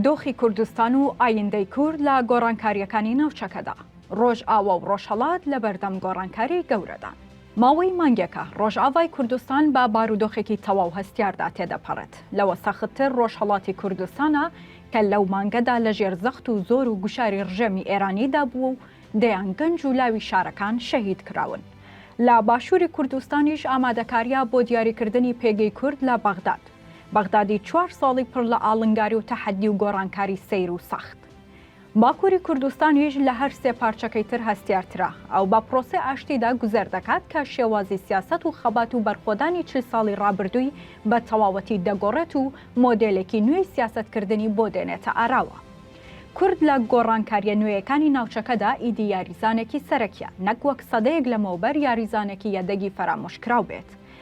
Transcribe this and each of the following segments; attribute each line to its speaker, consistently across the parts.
Speaker 1: دۆخی کوردستان و ئایندەی کورد لە گۆڕانکارییەکانی ناوچەکەدا، ڕۆژئاوا و ڕۆژهەڵات لەبەردەم گۆڕانکاری گەورەدان. ماوەی مانگێکە ڕۆژئاڤای کوردستان بە بارودۆخێکی تەواو هەستیاردا تێدەپەڕێت، لەوە سەختتر ڕۆژهەڵاتی کوردستانە کە لەو مانگەدا لەژێر زەخت و زۆر و گوشاری ڕژێمی ئێرانیدا بووە و دەیان گەنج و لاوی شارەکان شەهید کراون. لە باشووری کوردستانیش ئامادەکارییە بۆ دیاریکردنی پێگەی کورد لە بەغداد. بەغدادی چوار ساڵی پڕ لە ئاڵنگاری و تەحەدی و گۆڕانکاری سەیر و سەخت. باکووری کوردستان یش لە هەر سێ پارچەکەی تر هەستیارترە. ئەو بە پرۆسەی ئاشتیدا گوزەر دەکات کە شێوازی سیاسەت و خەبات و بەرخۆدانی چل ساڵی ڕابردووی بە تەواوەتی دەگۆڕێت و مۆدێلێکی نوێی سیاسەتکردنی بۆ دێنێتە ئاراوە. کورد لە گۆڕانکارییە نوێیەکانی ناوچەکەدا ئیدی یاریزانێکی سەرەکییە، نەک وەک سەدەیەک لەمەوبەر یاریزانێکی یەدەگی فەرامۆشکراو بێت.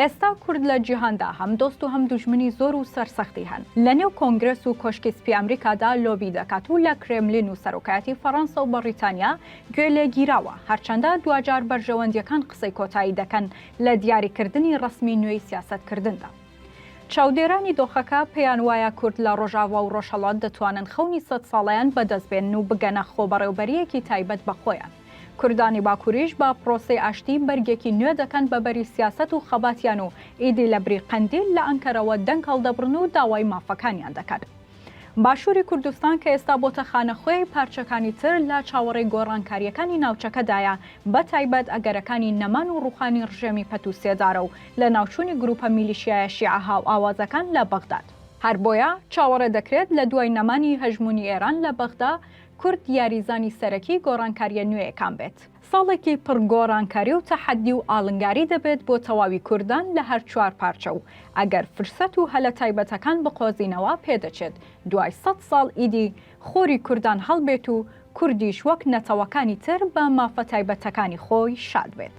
Speaker 1: ئێستا کورد لە جیهاندا هەم دۆست و هەم دوژمنی زۆر و سەرسەختی هەن. لە نێو کۆنگرێس و کۆشکی سپی ئەمریکادا لۆبی دەکات و لە کرێملین و سەرۆکایەتی فەڕانسە و بەڕیتانیا گوێ لێ گیراوە، هەرچەندە دواجار بەرژەوەندییەکان قسەی کۆتایی دەکەن لە دیاریکردنی ڕەسمی نوێی سیاسەتکردندا. چاودێرانی دۆخەکە پێیان وایە کورد لە ڕۆژاڤا و ڕۆژهەڵات دەتوانن خەونی سەد ساڵەیان بەدەست بێنن و بگەنە خۆبەڕێوبەرییەکی تایبەت بە خۆیان. کوردانی باکوریش بە پرۆسەی ئاشتی بەرگێکی نوێ دەکەن بە بەری سیاسەت و خەباتیان و ئیدی لە بری قەندیل لە ئەنکەرەوە دەنگ هەڵدەبڕن و داوای مافەکانیان دەکەن. باشوری کوردستان کە ئێستا بۆتە خانەخوێی پارچەکانی تر لە چاوەڕێی گۆڕانکاریەکانی ناوچەکەدایە بە تایبەت ئەگەرەکانی نەمان و ڕوخانی ڕژێمی پەت و سێدارە و لە ناوچونی گروپە میلیشیایە شیعە هاوئاوازەکان لە بەغداد. هەر بۆیە چاوەڕێ دەکرێت لە دوای نەمانی هەژمونی ئێران لە بەغدا کورد یاریزانی سەرەکی گۆڕانکارییە نوێیەکان بێت. ساڵێکی پڕ گۆڕانکاری و تەحەدی و ئاڵنگاری دەبێت بۆ تەواوی کوردان لە هەر چوار پارچە و ئەگەر فرسەت و هەلە تایبەتەکان بقۆزینەوە پێدەچێت دوای سەد ساڵ ئیدی خۆری کوردان هەڵبێت و کوردیش وەک نەتەوەکانی تر بە مافە تایبەتەکانی خۆی شاد بێت.